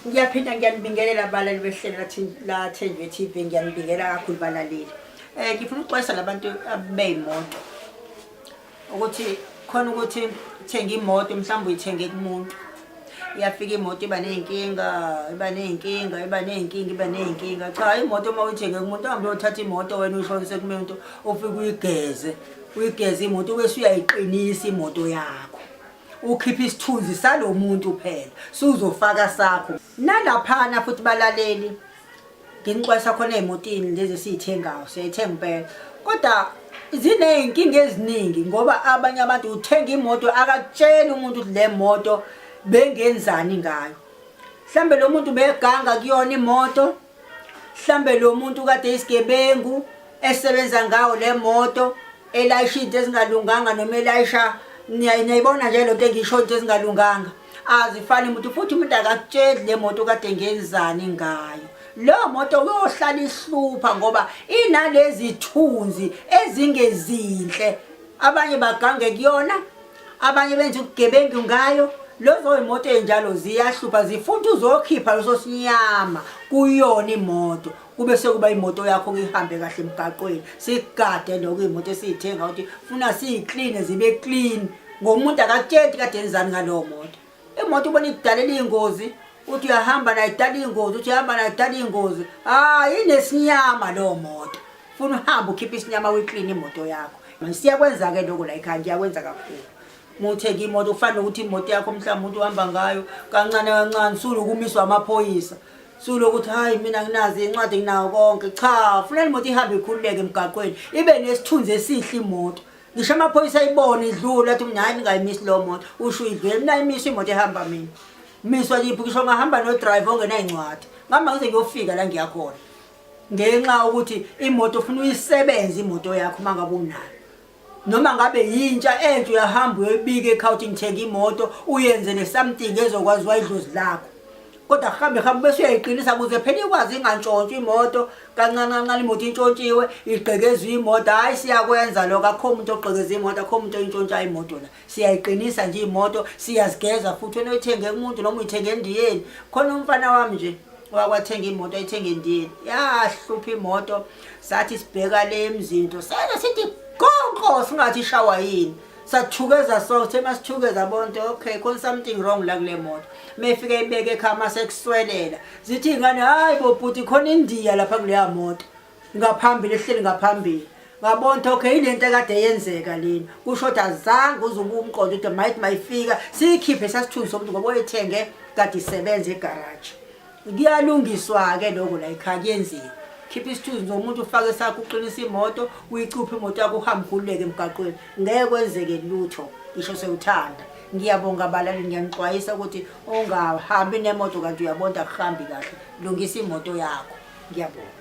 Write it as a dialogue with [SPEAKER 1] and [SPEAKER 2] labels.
[SPEAKER 1] ngiyaphinda ngiyanibingelela abalali behlela lathenjwe TV ngiyanibingela kakhulu balaleli um eh, ngifuna ukuxwayisa labantu abeyimoto ukuthi khona ukuthi thenga imoto mhlawumbe uyithenge kumuntu iyafika imoto iba ney'nkinga iba ney'nkinga iba ney'nkinga iba ney'nkinga cha imoto uma uyithenge kumuntu uhambe uyothatha imoto wena uyihlolise kumuntu ufike uyigeze uyigeze imoto ubese uyayiqinisa imoto yakho ukhipha isithunzi salo muntu phela suzofaka sakho nalaphana futhi balaleli nginixwayisa khona ezimotini lezi esiyithengayo siyayithenga impela kodwa ziney'nkinga eziningi ngoba abanye abantu uthenga imoto akatsheli umuntu ukuthi le moto bengenzani ngayo mhlawumbe lo muntu beganga kuyona imoto mhlambe lo muntu kade isigebengu esebenza ngawo le moto elayisha into ezingalunganga noma elayisha niyayibona nje lento engisho into ezingalunganga azifani muntu futhi umuntu akakutsheli le moto kade ngenzani ngayo leyo moto uyohlala ihlupha ngoba inalezi thunzi ezingezinhle abanye bagange kuyona abanye benza ubugebengu ngayo lezo imoto enjalo ziyahlupha zifuna uzokhipha leso sinyama kuyona imoto kube sekuba imoto yakho ngihambe kahle emgaqweni sigade lokho imoto esiyithenga ukuthi funa siyiclean zibe clean ngomuntu akakutshenti kade enzani ngalowo moto imoto ubona ikudalela iy'ngozi uthi uyahamba nayo idala iy'ngozi uthi uyahamba nayo idala iy'ngozi hhayi inesinyama leyo moto funa uhambe ukhiphe isinyama uyiklini imoto yakho siyakwenza-ke loko la ekhaya ngiyakwenza kakhulu muthenge imoto kufana nokuthi imoto yakho mhlawumbe umuntu uhamba ngayo kancane kancane sulukumiswa amaphoyisa sulokuthi hayi mina nginazi incwadi nginawo konke cha funela imoto ihambe ikhululeke emgaqweni ibe nesithunzi esihle imoto ngisho amaphoyisa ayibona idlula athi mina hayi ningayimisi leyo moto usho uyidlule mina ayimisi imoto ehamba mina miswa liphi ngisho ngahamba nodrive ongenay'ncwadi ngihamba ngize ngiyofika la ngiyakhona ngenxa ukuthi imoto ufuna uyisebenze imoto yakho uma ngabe unayo noma ngabe yintsha entsha uyahamba uyoyibika ekhawuthi ngithenga imoto uyenzele something ezokwazi wayidlozi lakho kodwa hambe hambe bese uyayiqinisa kuze phela ikwazi ingantshontshwa imoto kancane kancane imoto intshontshiwe igqekezwe imoto hhayi siyakwenza lokho akho muntu ogqekeza imoto akho muntu oyintshontsha imoto la siyayiqinisa nje imoto siyazigeza futhi wena uyithenge kumuntu noma uyithenge endiyeni khona umfana wami nje wakwathenga imoto ayithenga endiyeni yahlupha imoto sathi sibheka le mzinto sena sithi qonqo singathi ishawa yini sathukeza so sithe masithukeza bonke okay khona something wrong la kule moto mefike ibeke ekhaya masekuswelela zithi ingane hayi bo bhuti khona indiya lapha kuleya moto ngaphambili ehleli ngaphambili ngabona okay ilento ekade yenzeka lena kusho ukuthi azange uzuba umqondo ukuthi might mayifika siyikhiphe sasithunzi somuntu ngoba oyithenge kade isebenza egaraji kuyalungiswa-ke lokho la ekhaya kuyenziwa khipha isithunzi nomuntu ufake sakho uqinisa imoto uyicuphe imoto yakho uhambe ukhululeke emgaqweni ngeke kwenzeke lutho ngisho sewuthanda ngiyabonga abalali ngiyanixwayisa ukuthi ungahambi nemoto kanti uyabonda kuhambi kahle lungisa imoto yakho ngiyabonga